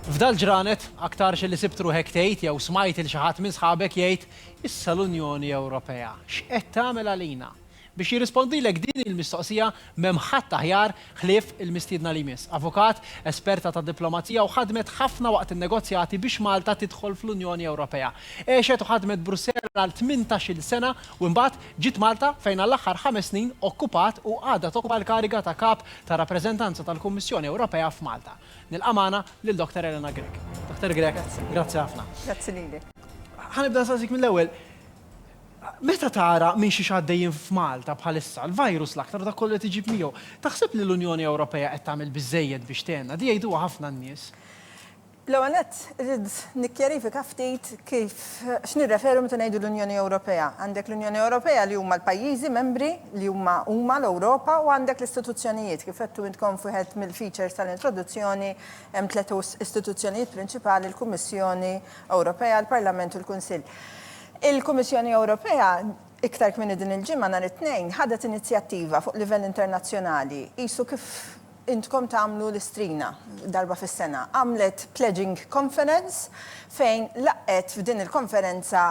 F'dal-ġranet, aktarx li sibt ruħek tgħid jew smajt il xi ħadd minn sħabek jgħid, Issa l-Unjoni Ewropea x'qed tagħmel għalina? Biex jirrispondilek din il-mistoqsija m'hemm ħadd aħjar ħlief il-mistiedna li jmiss. Avukat, esperta tad-diplomazija u ħadmet ħafna waqt in-negozjati biex Malta tidħol fl-Unjoni Ewropea. Għexet u ħadmet Brussell għal tmintax-il sena u imbagħad Ġiet Malta fejn għall-aħħar ħames snin okkupat u għadha tokkupa l-kariga ta' Kap tar-Rappreżentanza tal-Kummissjoni Ewropea f'Malta. Nilqa' magħna lil Dr. Elena Grech. Dr. Grech, grazzi ħafna. Grazzi lilek. Ħa nibda nsaqsik mill-ewwel, meta tara minn xiex għaddejjin f'Malta bħalissa, l-virus l-aktar u dak kollu li qed iġib miegħu, taħseb li l-Unjoni Ewropea qed tagħmel biżżejjed biex tgħinna? Di jgħiduha ħafna n-nies. L-ewwel nett, irrid nikkjarifika ftit kif, x'nirreferu meta ngħidu l-Unjoni Ewropea. Għandek l-Unjoni Ewropea li huma l-pajjiżi membri li huma huma l-Ewropa u għandek l-istituzzjonijiet. Kif għedtu intkom f'wieħed mill-features tal-introduzzjoni, hemm tliet istituzzjonijiet prinċipali, l-Kummissjoni Ewropea, l-Parlament u l-Kunsill. Il-Kummissjoni Ewropea, iktar kmieni din il-ġimgħa nhar it-Tnejn, ħadet inizjattiva fuq livell internazzjonali, qisu kif intkom tagħmlu l-istrina darba fis-sena, għamlet pledging conference fejn laqqgħet f'din il-konferenza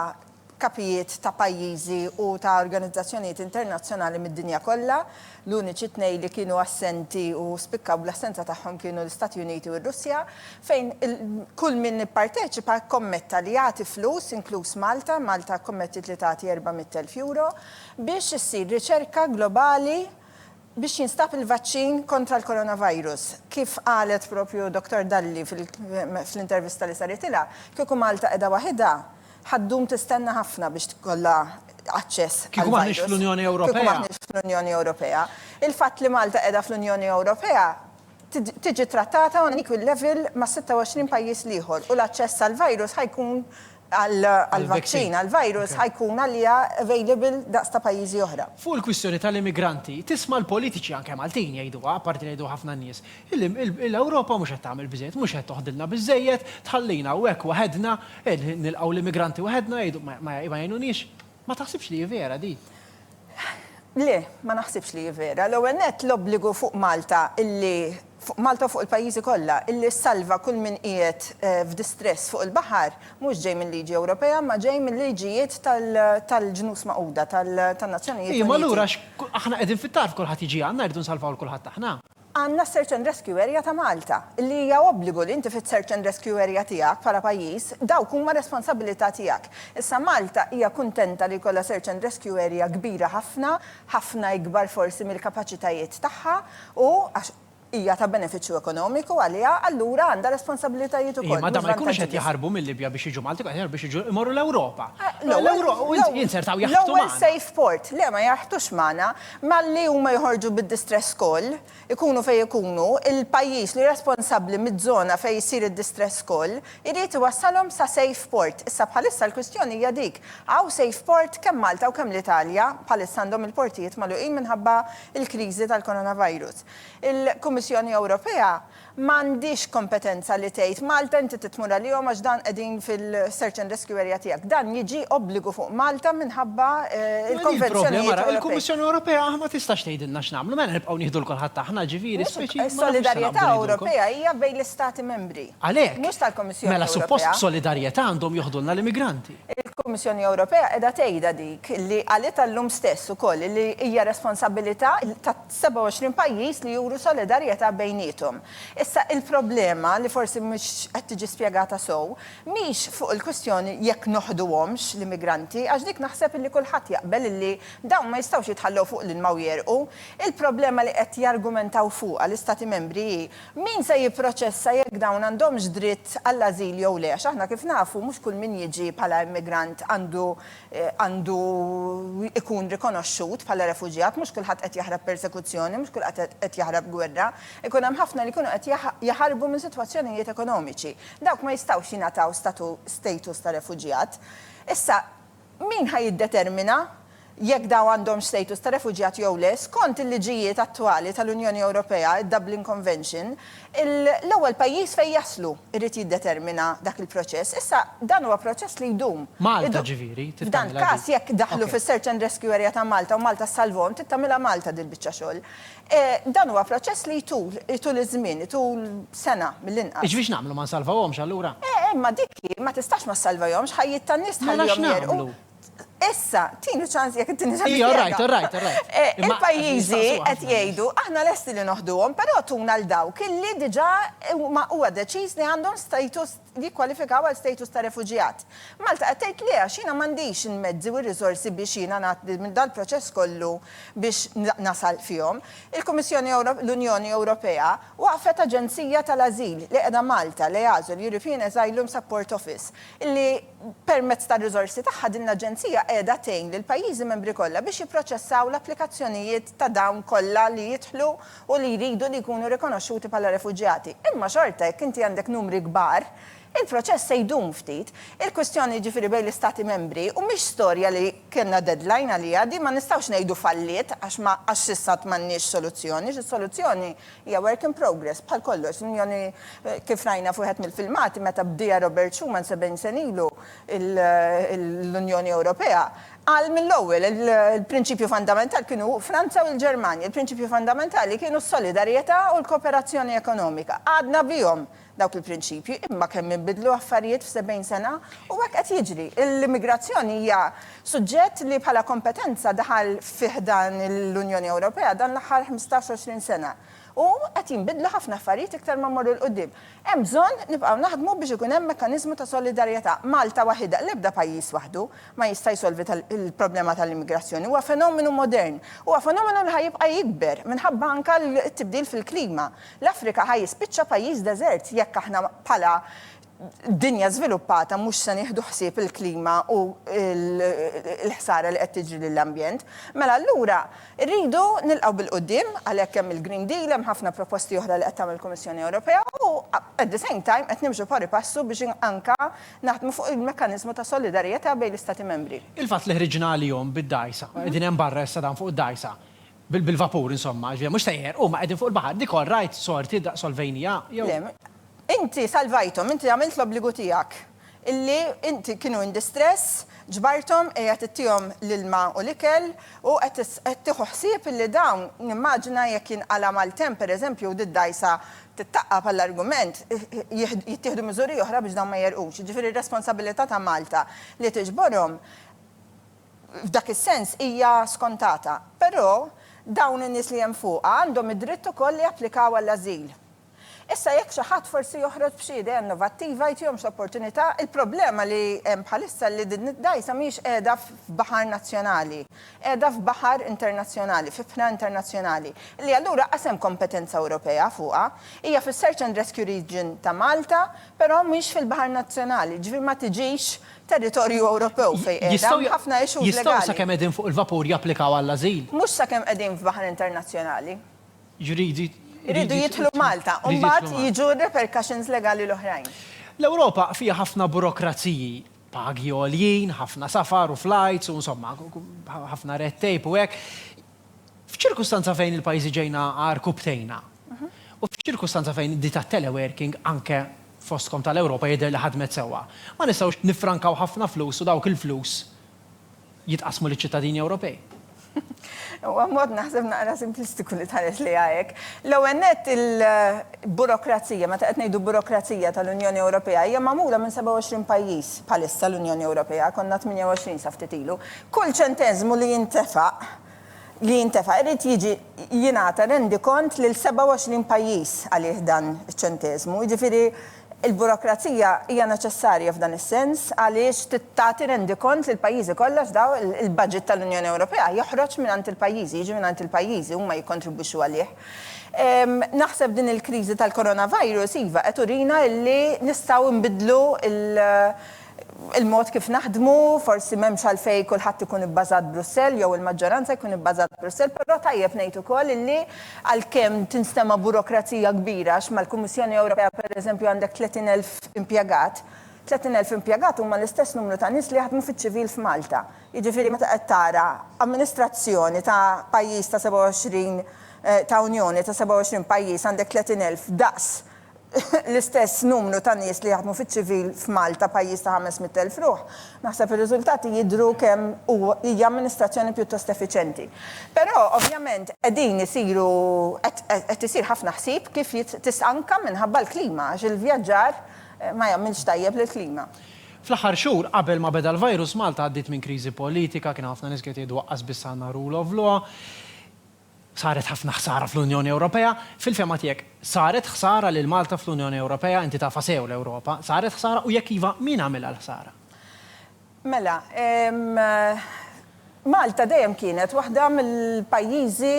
kapijiet ta' pajjiżi u ta' organizzazzjonijiet internazzjonali mid-dinja kollha. L-uniċi tnejn li kienu assenti u spikkaw bl-assenza tagħhom kienu l-Istati Uniti u r-Russja, fejn kull min ipparteċipa kkommetta li jagħti flus, inkluż Malta, Malta kkommettiet li tagħti erba' mitt elf euro, biex issir riċerka globali biex jinstab il-vaċċin kontra l-coronavirus. Kif qalet proprju Dottor Dalli fl-intervista li saritilha, kieku Malta qiegħda waħidha, ħa ddum tistenna ħafna biex tkollha aċċess għall-virus. Kieku m'aħniex fl-Unjoni Ewropea. Il-fatt li Malta qiegħda fl-Unjoni Ewropea, tiġi ttrattata on an equal level mas-26 pajjiż l-ieħor u l-aċċess għall-virus ħa jkun, għall-vaċċin għall-virus ħa jkun għaliha available daqs ta' pajjiżi oħra. Fuq il-kwistjoni tal-immigranti, tisma' l-politiċi, anke Maltin, jgħiduha, apparti li jgħiduha ħafna nies, illi l-Ewropa mhux qed tagħmel biżżejjed, mhux qed toħdilna biżżejjed, tħallina hawnhekk waħedna, qed nilqgħu l-immigranti waħedna, jgħidu ma jgħinuniex. Ma taħsibx li hi vera din? Le, ma naħsibx li hi vera. L-ewwel nett l-obbligu fuq Malta illi, fuq Malta u fuq il-pajjiżi kollha, illi ssalva kull min qiegħed f'distress fuq il-baħar mhux ġej minn liġi Ewropea imma ġej mil-liġijiet tal-Ġnus Magħquda, tan-Nazzjonijiet Uniti. Imma allura aħna qegħdin fit-tarf kulħadd jiġi għandna rridu nsalvaw lil kulħadd aħna? Għandna s-Search and Rescue Area ta' Malta, li hija obbligu li inti fis-Search and Rescue Area tiegħek bħala pajjiż, dawk huma responsabilità tiegħek. Issa Malta hija kuntenta li jkollha Search and Rescue Area kbira ħafna, ħafna ikbar forsi mill-kapaċitajiet tagħha, u għax hija ta' benefiċċju ekonomiku għaliha, allura għandha responsabilitajiet ukoll, mhux vantaġġi biss. Imma dawn ma jkunux qed jaħarbu mil-Libja biex jiġu Malta, qed jaħarbu biex jiġu imorru l-Ewropa. L-ewwel, l-ewwel, l-ewwel safe port, le ma jaħrtux magħna, Malli huma joħorġu bid-distress call, ikunu fejn ikunu, il-pajjiż li responsabbli miz-zona fejn issir id-distress call irid iwassalhom sa safe port. Issa bħalissa l-kwistjoni hija dik, hawn safe port kemm Malta u kemm l-Italja, bħalissa għandhom il-portijiet magħluqin minħabba l-kriżi tal-coronavirus. Il-Kummissjoni Ewropea M'għandhiex kompetenza li tgħid, Malta inti trid tmur għalihom għax dan qegħdin fil-search and rescue area tiegħek. Dan jiġi obbligu fuq Malta minħabba l-konvenzjonijiet Ewropej. Il-Kummissjoni Ewropea ma tistax tgħidilna x'nagħmlu, mela nibqgħu nieħdu 'l kulħadd aħna, ġifieri speċi jien ma nafx se naqbdu ngħidilkom. Is-solidarjetà Ewropea hija bejn l-Istati Membri, mhux tal-Kummissjoni Ewropea. Għalhekk, mela suppost b'solidarjetà għandhom joħdulna l-immigranti. Il-Kummissjoni Ewropea qiegħda tgħidha dik li qalitha llum stess ukoll li hija responsabbilità ta' 27 pajjiż li juru solidarjetà bejniethom. Issa, il-problema, li forsi mhux qed tiġi spjegata sew, mhix fuq il-kwistjoni jekk noħduhomx l-immigranti, għax dik naħseb illi kulħadd jaqbel illi dawn ma jistgħux jitħallew fuq l-ilma u jegħrqu. Il-problema li qed jargumentaw fuqha l-Istati Membri hi min se jipproċessa jekk dawn għandhomx dritt għall-ażil jew le, għax aħna kif nafu mhux kull min jiġi bħala immigrant għandu għandu jkun rikonoxxut bħala refuġjat, mhux kulħadd qed jaħrab persekuzzjoni, mhux kulħadd qed jaħrab gwerra. Ikun hemm ħafna li jkunu qed jaħarbu minn sitwazzjonijiet ekonomiċi. Dawk ma jistgħux jingħataw status ta' refuġjat. Issa, min ħa jiddetermina jekk dawn għandhomx status ta' refuġjat jew le? Skont il-liġijiet attwali tal-Unjoni Ewropea, id-Dublin Convention, L-ewwel pajjiż fejn jaslu jrid jiddetermina dak il-proċess. Issa, dan huwa proċess li jdum. Malta, ġifieri, trid tagħmilha din. F'dan il-każ, jekk daħlu fis-Search and Rescue Area ta' Malta u Malta ssalvhom, trid tagħmilha Malta din il-biċċa xogħol. Dan huwa proċess li jtul, itul iż-żmien, itul sena mill-inqas. Jiġifieri x'nagħmlu, ma nsalvawhomx allura? Imma dik hi, ma tistax ma ssalvahomx, ħajjiet tan-nies tħallihom jegħrqu. Mela x'nagħmlu? Issa, tini ċans jekk tini ċans. Ija, rajt, rajt, rajt. Eh, il-pajjiżi qed jgħidu aħna lesti li noħduhom, però tuna l dawk illi diġà ma huwa deċiż li għandhom status jikkwalifikaw għal status ta' refuġjat. Malta qed tgħid li għax jiena m'għandix il-mezzi u r-riżorsi biex jiena nagħti minn dal-proċess kollu biex nasal fihom. Il-Kummissjoni l-Unjoni Ewropea waqfet aġenzija tal-ażil li qiegħda Malta li għażu l-European Asylum Support Office li Permezz tar-riżorsi tagħha din l-Aġenzija qiegħda tgħin lill-pajjiżi membri kollha biex jipproċessaw l-applikazzjonijiet ta' dawn kollha li jidħlu u li jridu li jkunu rikonoxxuti bħala refuġjati. Imma xorta jekk inti għandek numri kbar, il-proċess se jdum ftit. Il-kwistjoni jiġifieri bejn l-Istati Membri u mhix storja li kellna deadline għaliha, din ma nistgħux ngħidu falliet għax ma għax s'issa għad m'għandniex soluzzjoni, għax is-soluzzjoni Hija work in progress bħal kollox. L-Unjoni, kif rajna f'wieħed mill-filmati, meta bdieha Robert Schuman sebgħin sen ilu l-Unjoni Ewropea, qal mill-ewwel il-prinċipju fundamentali kienu Franza u l-Ġermanja. Il-prinċipji fundamentali kienu s-solidarjetà u l-kooperazzjoni ekonomika. Għadna bihom dawk il-prinċipji, imma kemm inbidlu affarijiet f'sebgħin sena, u hekk qed jiġri. L-immigrazzjoni hija suġġett li bħala kompetenza daħal fi ħdan l-Unjoni Ewropea dan l-aħħar ħmistax, għoxrin sena. U qed jinbidlu ħafna affarijiet iktar ma mmorru 'l quddiem. Hemm bżonn nibqgħu naħdmu biex ikun hemm mekkaniżmu ta' solidarjetà. Malta waħidha, l-ebda pajjiż waħdu, ma jista' jsolvi l-problema tal-immigrazzjoni. Huwa fenomenu modern. Huwa fenomenu li ħa jibqa' jikber minħabba anke t-tibdil fil-klima. L-Afrika ħa jispiċċa pajjiż deżert jekk aħna bħala dinja żviluppata mhux se nieħdu ħsieb il-klima u l-ħsara li qed tiġri lill-ambjent. Mela allura rridu nilqgħu bil-quddiem, għalhekk hemm il-Green Deal, hemm ħafna proposti oħra li qed tagħmel il-Kummissjoni Ewropea u at the same time qed nimxu pari passu biex anke naħdmu fuq il-mekkaniżmu ta' solidarjetà bejn l-Istati Membri. Il-fatt li ħriġna għalihom bid-dgħajsa, qegħdin hemm barra issa dan fuq id-dgħajsa, bil-vapur insomma, ġifieri mhux sejjer, huma qegħdin fuq il-baħar. Nicole, Rajt sorti daqs Olvenia, jew. Le. Inti salvajthom, inti għamilt l-obbligu tiegħek. Illi inti kienu in distress, ġbarthom, qiegħed ittihom l-ilma u l-ikel, u qed qed tieħu ħsieb illi dawn, nimmaġina jekk jinqala' maltemp pereżempju u did-dgħajsa tittaqqa' bħall-argument, jittieħdu miżuri oħra biex dawn ma jegħrqux. Jiġifieri r-responsabilità ta' Malta li tiġborhom. F'dak is-sens hija skontata. Però, dawn in-nies li hemm fuqha għandhom id-dritt ukoll li japplikaw għall-ażil. Issa jekk xi ħadd forsi joħroġ b'xi idea innovattiva, jtihomx opportunità, il-problema li hemm bħalissa li din id-dgħajsa mhijiex qiegħda f'baħar nazzjonali. Qiegħda f'baħar internazzjonali, f'ibħra internazzjonali, li allura qas hemm kompetenza Ewropea fuqha. Hija fis-search and rescue region ta' Malta, però mhix fil-baħar nazzjonali, jiġifieri ma tiġix territorju Ewropew fejn qiegħda, hemm ħafna issues legali. Jistgħu sakemm qegħdin fuq il-vapur japplikaw għall-ażil? Mhux sakemm qegħdin f'baħar internazzjonali. Jridu. Iridu jidħlu Malta u mbagħad jiġu r-repercussions legali l-oħrajn. L-Ewropa fiha ħafna burokraziji, pagi għoljin, ħafna safar u flights u insomma, ħafna red tape u hekk. F'ċirkustanza fejn il-pajjiżi ġejna agħar kubtejna, u f'ċirkustanza fejn di tat-teleworking, anke fostkom tal-Ewropa, jidher li ħadmet sewwa, ma nistgħux niffrankaw ħafna flus u dawk il-flus jitqassmu liċ-ċittadini Ewropej? Huwa mod naħseb naqra simplistiku li tħares lejha hekk. L-ewwel nett il-burokrazija, meta qed ngħidu burokrazija tal-Unjoni Ewropea, hija magħmula minn 27 pajjiż bħalissa l-Unjoni Ewropea, konna 28 sa ftit ilu. Kull ċenteżmu li jintefa' li jintefa' irid jiġi jingħata rendikont lil 27 pajjiż għalih dan iċ-ċenteżmu. Jiġifieri l-burokrazija hija neċessarja f'dan is-sens għaliex tagħti rendikont lill-pajjiżi kollha x'daw il-baġit tal-Unjoni Ewropea joħroġ mingħand il-pajjiżi, jiġi mingħand il-pajjiżi, huma jikkontribwixxu għalih. Naħseb din il-kriżi tal-coronavirus iva qed turina illi nistgħu nbiddlu l il-mod kif naħdmu, forsi m'hemmx għalfejn kulħadd ikun ibbażat Brussell jew il-maġġoranza jkun ibbażat Brussell, però tajjeb ngħid ukoll illi għalkemm tinstema' burokrazija kbira għax mal-Kummissjoni Ewropea pereżempju għandek 30 elf impjegat, 30 elf impjegat huma l-istess numru ta' nies li jaħdmu fiċ-ċivil f'Malta. Jiġifieri meta qed tara amministrazzjoni ta' pajjiż ta' 27 ta' Unjoni ta' 27 pajjiż għandek 30 elf daqs l-istess numru ta' nies li jaħdmu fiċ-ċivil f'Malta, pajjiż ta' ħames mitt elf ruħ, naħseb ir-riżultati jidhru kemm hu hija amministrazzjoni pjuttost effiċjenti. Però, ovvjament, qegħdin isiru qed qed isir ħafna ħsieb kif jit tista' anke minħabba l-klima għax il-vjaġġar ma jagħmilx tajjeb lill-klima. Fl-aħħar xhur qabel ma beda l-virus, Malta għaddiet minn kriżi politika, kien hawn ħafna nies li qed jgħidu aqqas biss għandna rule of law. Saret ħafna ħsara fl-Unjoni Ewropea. Fil-fehma tiegħek, saret ħsara lil Malta fl-Unjoni Ewropea? Inti tafha sew l-Ewropa. Saret ħsara u jekk iva, min għamilha l-ħsara? Mela, Malta dejjem kienet waħda mill-pajjiżi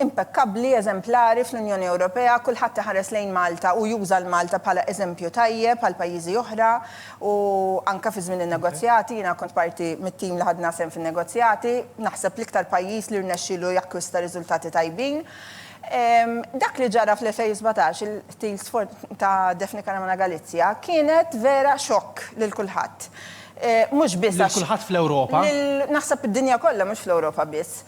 impekkabbli, eżemplari fl-Unjoni Ewropea. Kulħadd iħares lejn Malta u juża 'l Malta bħala eżempju tajjeb għal pajjiżi oħra. u anke fi żmien in-negozjati, jiena kont parti mit-tim li ħadna sehem fin-negozjati, naħseb l-iktar pajjiż li rnexxielu jakkwista riżultati tajbin. Dak li ġara fl-2017, il-qtil ta' Daphne Caruana Galizia, kienet vera xokk lil kulħadd. Mhux biss għax. Lil kulħadd fl-Ewropa. Naħseb id-dinja kollha, mhux fl-Ewropa biss.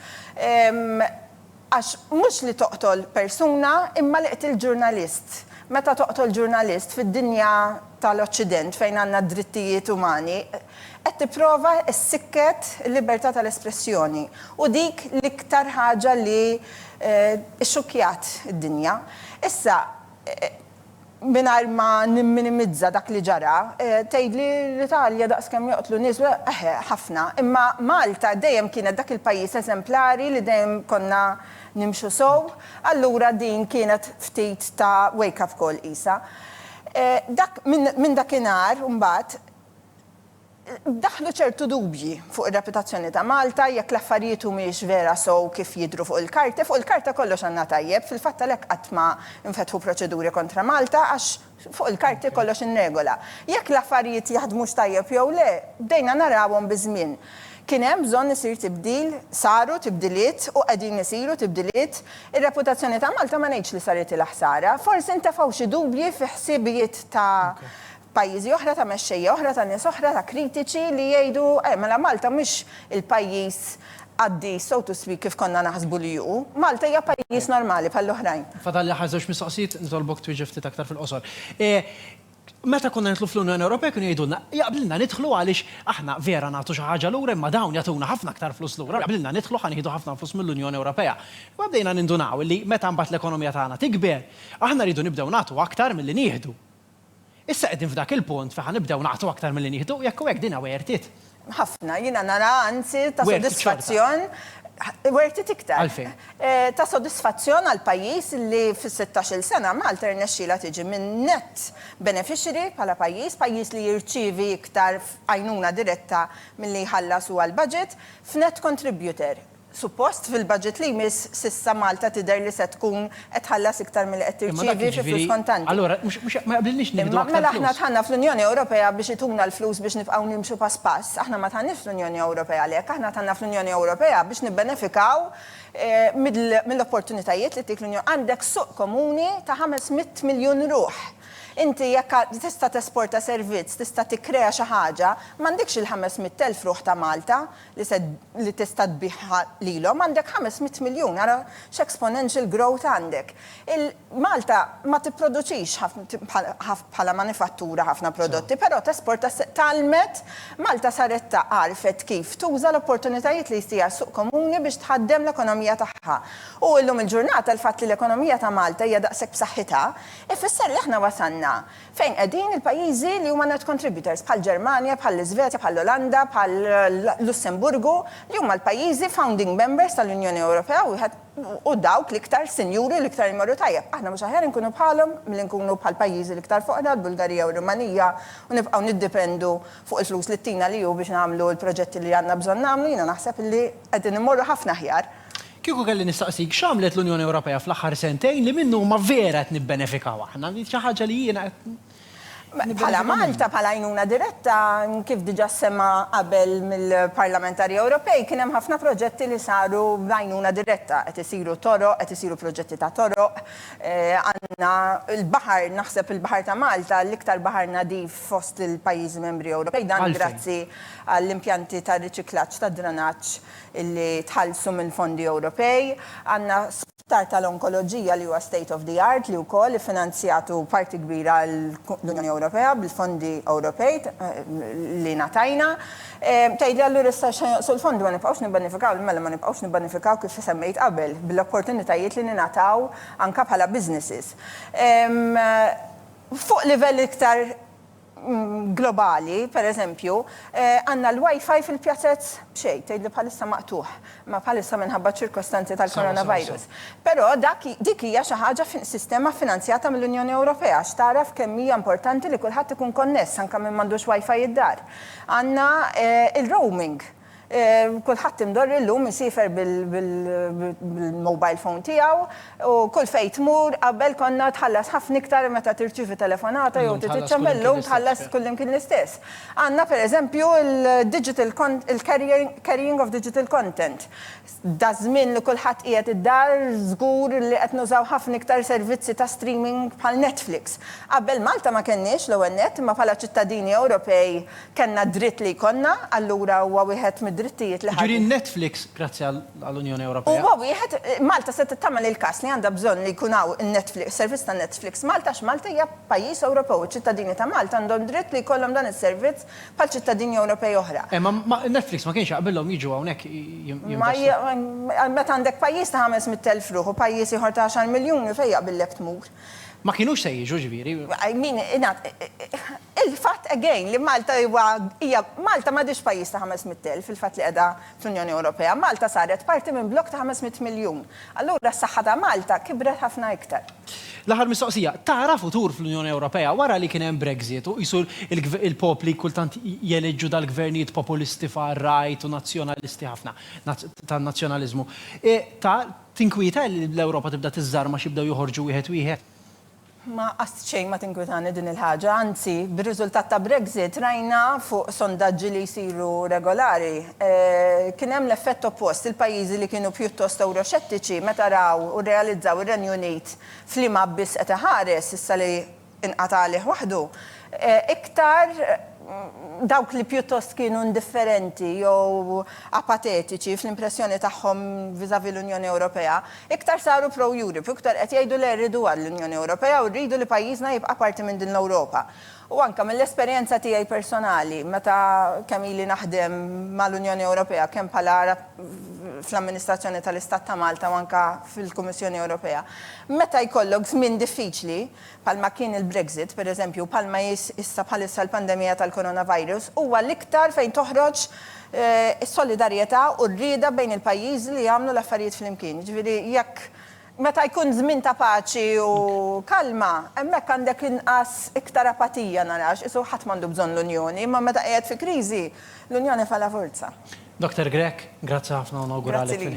Għax mhux li toqtol persuna imma li qtilt ġurnalist. Meta toqtol ġurnalist fid-dinja tal-Oċċident fejn għandna d-drittijiet umani, qed tipprova ssikket il-libertà tal-espressjoni u dik l-iktar ħaġa li xxukkjat id-dinja. Issa, mingħajr ma nimminimizza dak li ġara, tgħidli l-Italja daqskemm joqtlu nies, eħe, ħafna, imma Malta dejjem kienet dak il-pajjiż eżemplari li dejjem konna nimxu sew, allura din kienet ftit ta' wake-up call qisha. Dak, minn dakinhar imbagħad, Daħlu ċertu dubji fuq ir-reputazzjoni ta' Malta jekk l-affarijiet humiex vera sew kif jidhru fuq il-karta. Fuq il-karta kollox għandna tajjeb, fil-fatt għalhekk qatt ma nfetħu proċeduri kontra Malta għax fuq il-karti kollox inregola. Jekk l-affarijiet jaħdmux tajjeb jew le, bdejna narawhom biż-żmien. Kien hemm bżonn isir tibdil, saru tibdiliet u qegħdin isiru tibdiliet. Ir-reputazzjoni ta' Malta ma ngħidx li saritilha ħsara. Forsi ntefgħu xi dubji fi ħsiebijiet ta' pajjiżi oħra, ta' mexxejja oħra, ta' nies oħra, ta' kritiċi li jgħidu, eh, mela Malta mhux il-pajjiż qaddis, so to speak, kif konna naħsbu li hu. Malta hija pajjiż normali bħall-oħrajn. Fadalli aħħar żewġ mistoqsijiet, nitolbok twieġeb ftit aktar fil-qosor. Meta konna nidħlu fl-Unjoni Ewropea kienu jgħidulna, jaqblilna nidħlu għaliex aħna vera nagħtu xi ħaġa lura imma dawn jagħtuna ħafna aktar flus lura, jaqblilna nidħlu ħa nieħdu ħafna flus mill-Unjoni Ewropea. Imma bdejna nindunaw li meta mbagħad l-ekonomija tagħna tikber, aħna rridu nibdew nagħtu aktar milli nieħdu. Issa qegħdin f'dak il-punt fejn ħa nibdew nagħtu aktar milli nieħdu, u jekk hu hekk din worth it. Ħafna, jiena nara anzi ta' sodisfazzjon, worth it iktar. Għalfejn? Ta' sodisfazzjon għal pajjiż li fis-sittax-il sena Malta rnexxielha tiġi minn net beneficiary bħala pajjiż, pajjiż li jirċievi iktar għajnuna diretta milli jħallas huwa l-budget, f'net contributor. Suppost fil-budget li jmiss, s'issa Malta tidher li se tkun qed tħallas iktar milli qed tirċievi fi flus kontanti. Imma mela aħna dħalna fl-Unjoni Ewropea biex ituna l-flus biex nibqgħu nimxu pass pass? Aħna ma dħalniex fl-Unjoni Ewropea għalhekk. Aħna dħalna fl-Unjoni Ewropea biex nibbenefikaw mill-opportunitajiet li ttik l-Unjoni. Għandek suq komuni ta' ħames mitt miljun ruħ. Inti jekk tista' tesporta servizz, tista' tikkrea xi ħaġa, m'għandekx il-ħames mitt elf ruħ ta' Malta. li se li tista' tbigħha lilhom għandek ħames mitt miljun, ara x'exponential growth għandek. Il, Malta ma tipproduċix ħafna bħala manifattura ħafna prodotti, però tesporta s, tgħallmet, Malta saret ta, għarfet kif tuża l-opportunitajiet li jtiha s-suq komuni biex tħaddem l-ekonomija tagħha. U llum il-ġurnata l-fatt li l-ekonomija ta' Malta hija daqshekk b'saħħitha, ifisser li aħna wasalna Fejn qegħdin il-pajjiżi li huma net contributors, bħall-Ġermanja, bħall-Iżvezja, bħall-Olanda, bħall-Lussemburgu, li huma l-pajjiżi founding members tal-Unjoni Ewropea u dawk l-iktar sinjuri u l-iktar imorru tajjeb? Aħna mhux aħjar inkunu bħalhom milli nkunu bħall-pajjiżi l-iktar foqra, l-Bulgarija u r-Rumanija, u nibqgħu niddipendu fuq il-flus li ttina l-EU biex nagħmlu l-proġetti li għandna bżonn nagħmlu? Jiena naħseb li qegħdin immorru ħafna aħjar. Kieku kelli nistaqsik x'għamlet l-Unjoni Ewropea fl-aħħar sentejn li minnu huma vera qed nibbenefikaw aħna, li xi ħaġa li jiena qed nibbenefika minnha. Bħala Malta, bħala għajnuna diretta, kif diġà ssemma qabel mill-parlamentari Ewropej, kien hemm ħafna proġetti li saru b'għajnuna diretta. Qed isiru toroq, qed isiru proġetti ta' toroq, għandna l-baħar, naħseb il-baħar ta' Malta l-iktar baħar nadif fost il-pajjiżi membri Ewropej, dan grazzi għall-impjanti ta' riċiklaġġ tad-dranaġġ. li tħallsu mill-fondi Ewropej. Għandna spitar tal-onkoloġija li huwa state of the art li wkoll iffinanzjatu parti kbira l-Unjoni Ewropea bil-fondi Ewropej li ngħatajna. Tgħidli allura issa x'se jonqsu l-fondi ma nibqgħux nibbenefikaw? Mela ma nibqgħux nibbenefikaw kif semmejt qabel bl-opportunitajiet li ningħataw anke bħala businesses. Fuq livell iktar globali, per eżempju, għandna l-WiFi fil-pjazez b'xejn, tgħid li bħalissa maqtugħ, ma bħalissa minħabba ċ-ċirkostanzi tal-coronavirus. Però dak dik hija xi ħaġa fi sistema ffinanzjata mill-Unjoni Ewropea għax tagħraf kemm hija importanti li kulħadd ikun konness anke min m'għandux WiFi d-dar. Għandna il-roaming. Kulħadd imdorri llum isiefer bil-mobile phone tiegħu u kull fejn tmur qabel konna tħallas ħafna iktar meta tirċievi telefonata jew trid iċċempel llum tħallas kullimkien l-istess. Għandna pereżempju il-digital il-carrying of digital content. Daż-żmien li kulħadd qiegħed id-dar, żgur li qed nużaw ħafna iktar servizzi ta' streaming bħal Netflix. Qabel Malta ma kellniex, l-ewwel nett, imma bħala ċittadini Ewropej kellna d-dritt li jkollna, allura huwa wieħed mid-drittijiet li ħa. Jiġifieri n-Netflix grazzi għall-Unjoni Ewropea. Huwa wieħed, Malta setgħet tagħmel il-każ li għandha bżonn li jkun hawn in-Netflix, servizz ta' Netflix Malta għax Malta hija pajjiż Ewropew u ċ-ċittadini ta' Malta għandhom dritt li jkollhom dan is-servizz Bħal ċittadini Ewropej oħra. Eh, ma, ma, Netflix ma kienx jaqbilhom jiġu hawnhekk Ma, jinvestu. meta għandek pajjiż ta' ħames mitt elf ruħ u pajjiż ieħor ta' għaxar miljuni fejn jaqbillek tmur? Ma kienux se jiġu, ġifieri. I mean, ingħad, il-fatt, again, li Malta huwa, hija, Malta m'għadhiex pajjiż ta' ħames mitt elf, il-fatt li qiegħda, fl-Unjoni Ewropea, Malta saret parti minn blokk ta' 500 miljun. Allura s-saħħa ta' Malta kibret ħafna iktar. L-aħħar mistoqsija, tara futur fl-Unjoni Ewropea wara li kien hemm Brexit u qisu l-popli kultant jeleġġu dal-gvernijiet populisti far-right u nazzjonalisti ħafna, tan-nazzjonaliżmu. Ta' tinkwieta li l-Ewropa tibda tiżżarmax jibdew joħorġu wieħed wieħed? Ma qatt xejn ma tinkwitani din il-ħaġa, anzi, bir-riżultat ta' Brexit rajna fuq sondaġġi li jsiru regolari, kien hemm l-effett oppost, il-pajjiżi li kienu pjuttost ewroxettiċi meta raw u rrealizzaw ir-Renju Unit f'liema abbiss qed iħares, issa li inqata' għalih waħdu, iktar dawk li pjuttost kienu indifferenti jew apatetiċi fl-impressjoni tagħhom vis-à-vis l-Unjoni Ewropea, Iktar saru pro-Europe u iktar qed jgħidu le rridu għall-Unjoni Ewropea u rridu li pajjiżna jibqa' parti minn din l-Ewropa. U anke mill-esperjenza tiegħi personali meta kemm ili naħdem mal-Unjoni Ewropea kemm bħala rap fl-amministrazzjoni tal-Istat ta' Malta u anke fil-Kummissjoni Ewropea, meta jkollok żmien diffiċli, bħalma kien il-Brexit, pereżempju, u bħalma hi issa bħalissa l-pandemija tal-coronavirus, huwa l-iktar fejn toħroġ is-solidarjetà u r-rieda bejn il-pajjiżi li jagħmlu l-affarijiet flimkien. Jiġifieri jekk meta jkun żmien ta' paċi u kalma, hemmhekk għandek inqas iktar apatija nara, għax qisu ħadd m'għandu bżonn l-Unjoni, imma meta qiegħed fi kriżi, l-Unjoni fa la forza. Doctor Grech, grazzi ħafna u nawguralek fil-ħidma.